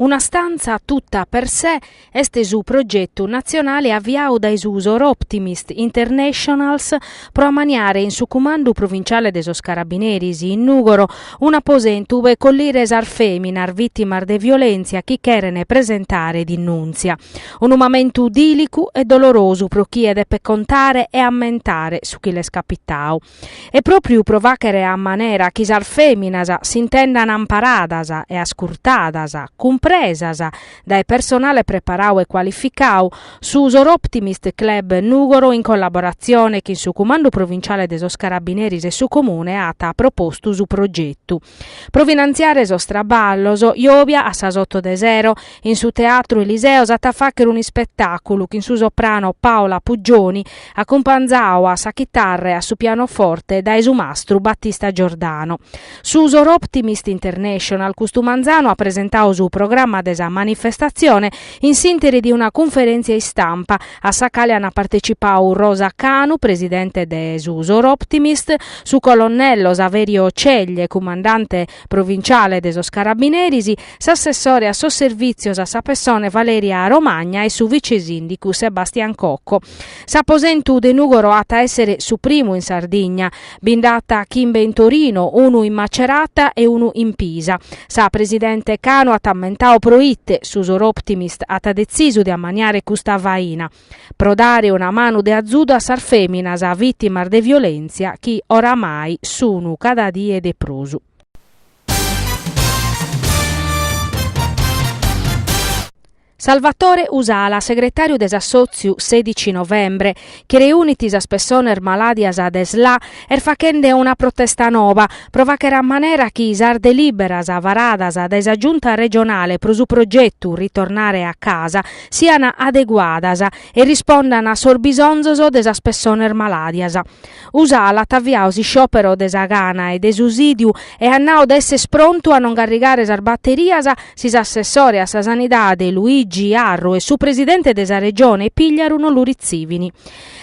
Una stanza tutta per sé est su progetu natzionale aviadu dae su Soroptimist Internationals pro amaniare in su Cumandu Provinciale de sos Carabineris in Nùgoro un'aposentu pro collire sas fèminas vìtimas de violèntzia chi cheren presentare denùntzia. Unu mamentu dìlicu e dolorosu pro chie depet contare e ammentare su chi l'est capitadu. e pròpriu pro fàghere a manera chi sas fèminas s'intendant amparadas e ascurtadas, cumpresas, dae personale preparadu e cualificadu, su Soroptimist Club Nùgoro in collaboratzione chin su Cumandu Provinciale de sos Carabineris e su Comune at propostu su progetu. Pro finantziare sos traballos, Iobia a sas oto de sero, in su Teatru Eliseo s'at a fàghere un ispetàculu chin su soprano Paola Puggioni, acumpanzadu a sa chitarra e a su pianoforte dae su mastru Battista Giordano. Su Soroptimist International custu manzanu at presentadu su programma de sa manifestatzione In s'interi de una cunferèntzia istampa, a sa cale ant partecipau Rosa Canu, presidente de su Soroptimist, su colonnello Saverio Ceglie, cumandante provinciale de sos Carabineris, s'assessore a sos Servìtzios a sa pessone Valeria Romagna e su vice-sìndicu Sebastian Cocco. S'aposentu de Nùgoro at a èssere su primu in Sardigna. Bi nd'at chimbe in Torino, unu in Macerata e unu in Pisa. Sa presidente Canu at ammentadu pro ite su Soroptimist at detzisu de ammaniare custa faina, pro dare una manu de azudu a sas fèminas vìtimas de violèntzia chi oramai sun cada die de prus. Salvatore Usala, segretàriu de s'assòtziu Sedici Novembre, chi reunit sas pessones malàdias de Sla, est faghende una protesta noba pro fàghere a manera chi sas delìberas varadas dae sa Giunta regionale pro su progetu Ritornare a casa sian adeguadas e rispondant a sos bisonzos de sas pessones malàdias. Usala at aviadu s'isciòpero de sa gana e de su sídiu e at nau de esser prontu a non carrigare sas baterias si s'assessore a sa Sanidade Luigi Arru e su presidente de sa Regione Pigliaru non lu ritzivin.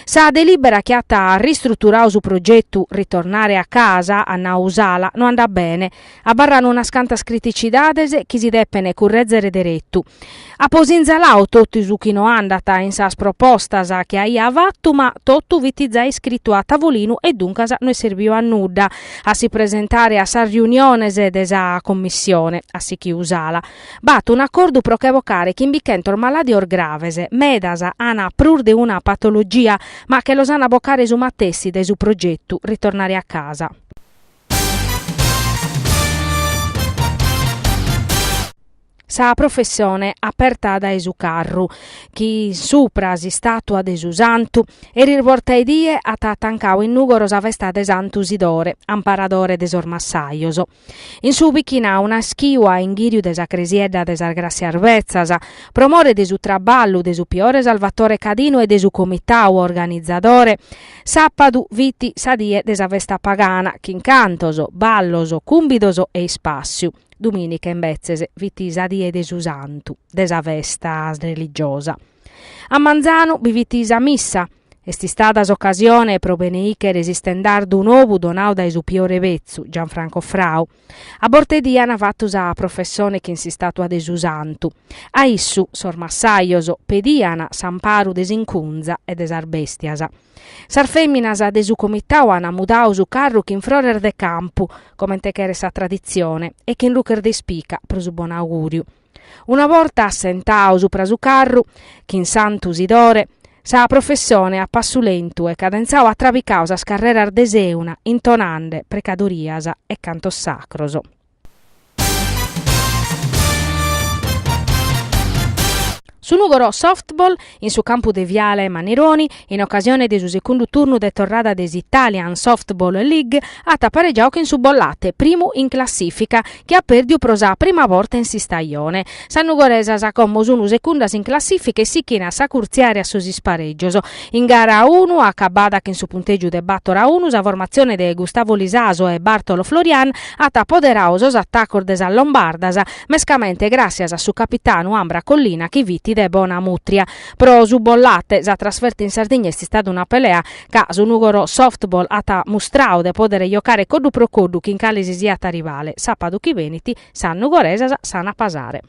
Sa delìbera chi at ristruturadu su progetu, ritornare a casa, at nau Usala, no andat bene. Abarrant unas cantas criticidades chi si depent currèzere deretu. Apo sinzaladu totu su chi no andat in sas propostas chi aia fatu ma totu fit zai iscritu a tavolinu e duncas no est serbiu a nudda a si presentare a sas riuniones de sa Commissione, at sighiu Usala. B'at un'acordu pro che bocare chimbichentos malàdios graves, medas an prus de una patologia, ma che los an a bocare su matessi dae su progetu, ritornare a casa. Sa professione aperta dae su carru, chin supra s'istatua de su Santu, eris borta 'e die at atancau in Nùgoro sa festa de Santu Sidore, amparadore de sos massajos. In su bichinau naschiu a inghìriu de sa cresiedda de sas Gràssias Betzas, pro more de su traballu de su piore Salvatore Cadinu e de su comitau organizadore, Sàpadu fit sa die de sa festa pagana, chin cantos, ballos, cùmbidos e ispàssiu. Domìnica, imbetzes, fit sa die de su Santu, de sa festa religiosa. A manzanu bi fit sa missa. Est istada s'ocasione pro beneìchere s'istendardu nobu donau dae su piore betzu, Gianfranco Frau. A borta 'e die an fatu sa professione chin s'istatua de su Santu. A issu sos massajos pedian s'amparu de s'incunza e de sas bèstias. Sas fèminas de su comitau an mudau su carru chin frores de campu, comente cheret sa traditzione, e chin ruches de ispica pro su bonaugùriu. Una borta assentau supra su carru, chin Santu Sidore, sa professone a passu lentu e cadentzau at trabicau sas carreras de Sèuna intonande precadorias e cantos sacros. Su Nùgoro Softball In su campu de Viale Mannironi, in ocasione de su secundu turnu de torrada de s'Italian Softball League, at aparegiau chin su Bollate, primu in classìfica, chi at pèrdiu pro sa prima borta in s'istajone. Sas nugoresas como sun secundas in classìfica e sichin a s'acurtziare a sos isparègios. In gara unu, acabada chin su puntègiu de bàtor a unu, sa formatzione de Gustavo Lisaso e Bartolo Florian at apoderau sos atacos de sas lombardas, mescamente gràssias a su capitanu Ambra Collina chi fit de bona mutria. Pro su Bollate sa trasferta in Sardigna est istada una pelea ca su Nùgoro Softball at mustrau de pòdere jocare coddu pro coddu chin cale si siat rivale. Sàpadu chi benit sas nugoresas s'an a pasare.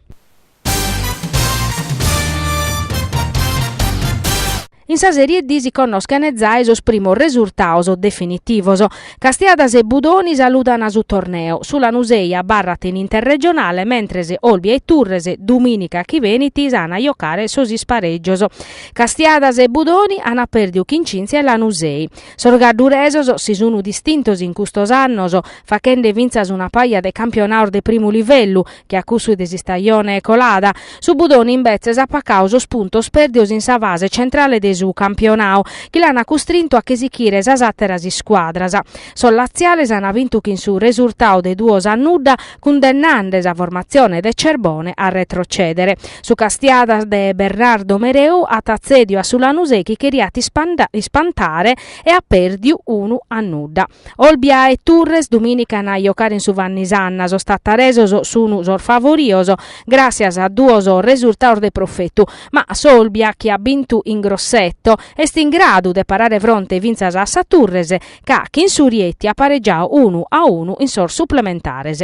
In sa Serie D si connoschent giai sos primos resurtaos definitivos. Castiadas e Budoni saludan su torneo, su Lanusei abarrat in Interregionale, mentres Olbia e Turres, domìnica chi benit, s'an a jocare sos isparègios. Castiadas e Budoni an pèrdiu chin Cynthia e Lanusei. Sos gadduresos si sun distintos in custos annos, fachende fintzas una paja de campionaos de primu livellu, che a cussu de s'istajone colada. Su Budoni imbetzes at pacau sos puntos pèrdidos in sa fase centrale de su campionau, chi l'an custrintu a che sichire sas àteras iscuadras. Sos latziales an bintu chin su resurtau de duos a nudda, cundennande sa formatzione de Cerbone a retrocèdere. Su Castiadas de Bernardo Mereu at tzèdiu a su Lanusè chi cheriat ispantare e at pèrdiu unu a nudda. Olbia e Turres dumìnica an a jocare in su Vanni Sanna, sos tattaresos sun sos favorios gràssias a duos resurtados de profetu, ma s'Olbia chi at bintu in Grosseto est in gradu de parare fronte fintzas a sa Turres chi chin su Rieti at paregiadu unu a unu in sos suplementares.